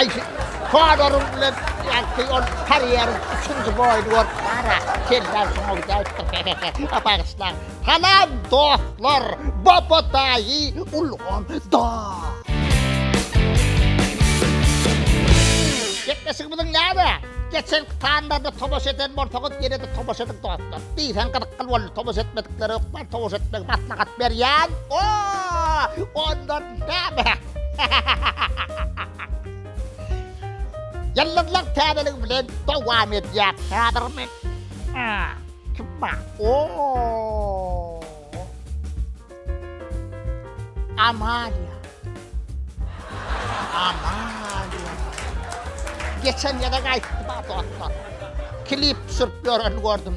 Aýşe, Kodaryň bilen ýagty ol karýeriň üçünji boýuny görüp bar-a, senden soň ol gelipdir, he-he-he, bagyşlaň. Salam, dostlar, Baba daýy ulgam da. Gepleşigimiziň ýa-da geçenki sanlaryna tomaşa eden bolsaňyz, ýene-de tomaşa ediň, dostlar. Diýseň gyzykly boldy, tomaşa etmedikler ökdem tomaşa etmegi maslahat berýän. O! Ondan näme? Ýyldyzlar täzeligi bilen dowam edýär. Häzir men kim bar? O! Amalia. Amalia. Geçen ýere gaýtdy dostlar. Klip düşürip ýöreni gördüm.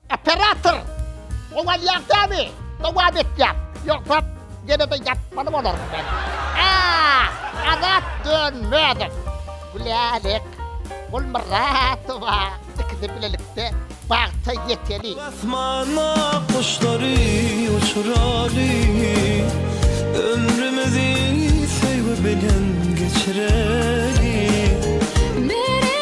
Operator! Gowalýar sämi! Dowam etýär! Ýogsa ýene-de ýatmaly bolaryn men. Aah! Azat Dönmezow! Gülälek! Gulmyradowa! Ikisi bilelikde bagta ýeteli! Asmana guşlary uçuraly, Ömrümizi söýgi bilen geçireli.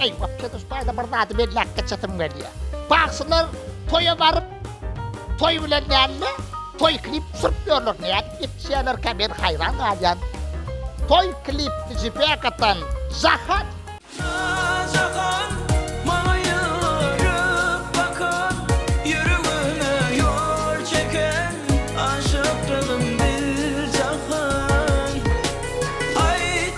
Eý, wapçe tuş baýda bir zady belläp geçesim gelýär. Bagşylar toýa baryp, toý bilen däl-de, toý klip tusup ýörler. Nädip ýetişýärlerkä men haýran galýan. Toý klipdi jipek atan Jahan. Jahan maňa ýörüp bakan ýüregime ýol çeken aşykdygym bil Jahan aýt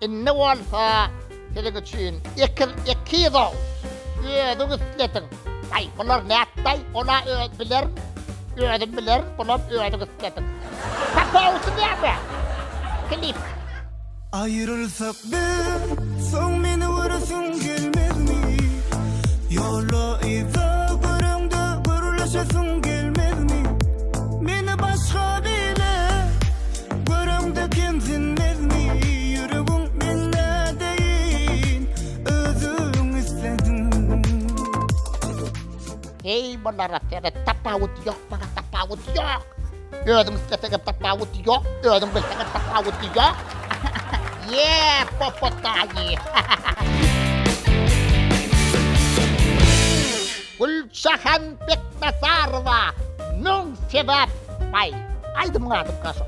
Indi bolsa siziň üçin ekiz ekiz oguz. Özüň islediň. Aý, bular nätdaý, ol-a öz bilerin, özüm bilerin, bulam özüň islediň. Tapawudy näme? Klip. Aýrylsak biz, soň meni göresiň gelmezmi? Ýola yza göreňde gürleşesiň gelmezmi? Meni başga bile. Heý bulara seret, tapawut ýok, bulara tapawut ýok. Özüň isleseňe tapawut ýok, özüň bilseňe tapawut ýok. Ýee, popotaýy. Güljahan Beknazarowa Müň sebäp Baý, aýdymyň ady gaşa.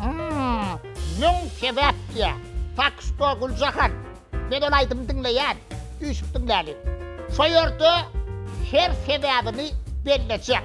Hmmm, Müň sebäp diýýä. Tak što, Güljahan, men ol aýdymy diňleýän, üýşüp diňläliň. Şo ýerde her sebäbini bellejek.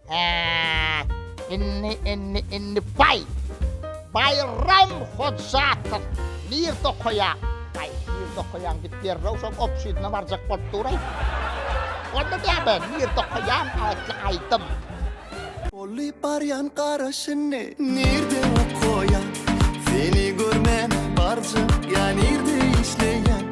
Äh! Indi, indi, indi baý! Baýram Hojatow! Nirde okaýaň? Aý, nirde okaýaň diýip derrew şol obşidine barjak bolup duraý. Onda näme, nirde okaýaň atly aýdym. Bolly barýan garaşyny nirde okaýaň? Seni görmän barjak ýa nirde işleýäň?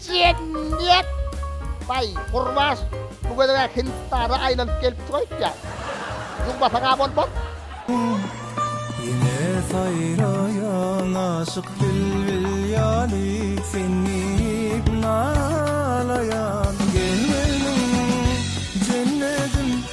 Jemgyýet! Baý, Gurbaş, bu gezeg-ä Hindistandan aýlanyp gelipdir öýtýän. Ýuwmasag-a bolmaz. Ýene saýraýaň aşyk bilbil ýaly, Sen diýip nalaýan gelmedim jennedim.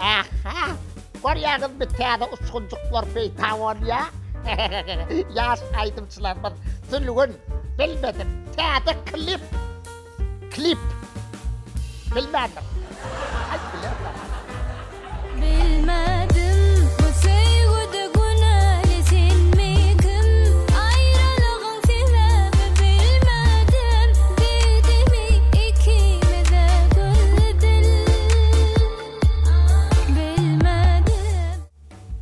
Hä-hä, görýäňizmi, täze uçgunjyklar peýda bolýar. Ýaş aýdymçylarymyz Sülgün, bilmedim, täze klip, klip, bilmändir. Aýt bilersiň. Bilmedim, bu söýgüde günäli senmi, kim? Aýralygyň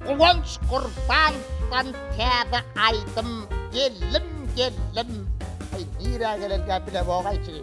Guwanç Gurbanowdan täze aýdym Geldim geldim. Aý nirä gelen gäpine bogaýçy.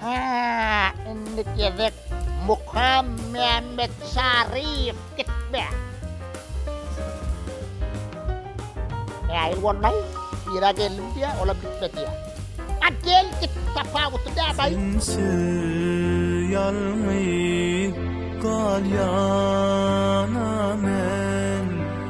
Hää, indi gezek Muhammämmetçaryýew gitme. Äýl bolmaý, ýra geldim diýýä, olam gitme diýýä. A gel git, tapawuty nä baý? Sensiz ýalňyz galýana men.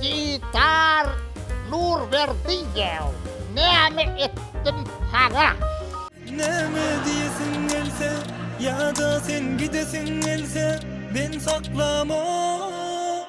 Gitar Nurberdiýew, näme etdim saňa? Näme diýesiň gelse, ýa-da sen gidesiň gelse, men saklamok.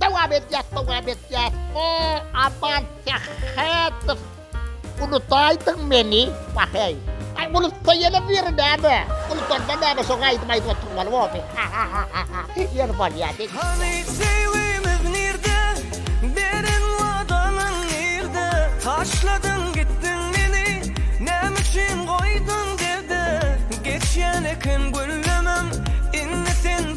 Dowam etýäs dowam etýäs o aman sähhätow unutaýdyň meni waheý. Aý unutsa ýene biri näme unutanda näme şoňa aýdym aýdyp oturmaly boldy hahahaha ýeri bolýa diý. Hany söýgümiz nirde beren wadalaň nirde taşladyň gitdiň meni näme üçin goýduň derde geçýän eken güllemem indi sen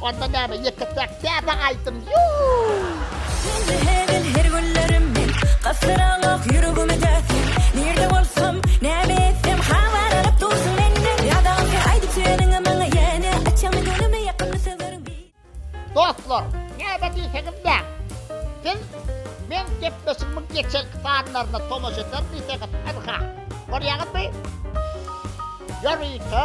Onda näme ýeketäk täze aýdym Dostlar näme diýseňiz näm siz meň gepleşigimiň geçenki sanlaryna tomaşa eder diýseňiz ynha görýäňizmi ýörite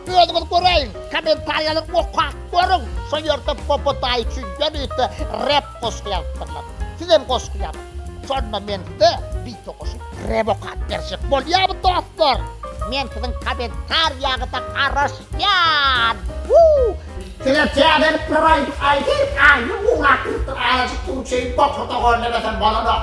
Özüňiz göräýiň, kommentariýalary okap görüň, şo ýerde Bobo daýy üçin ýörite rep goşgy ýazypdyrlar. Sizem goşgy ýazyň, şonda men size bite goşup rep okap berjek bolýarmy dostlar? Men siziň kommentariýaňyza garaşýan! Woo! Size täzelik bir aýdym aýdaýyn, aýny gurap bilipdir, aýajyk suw içeýin, bokura doganlemesem bolanok.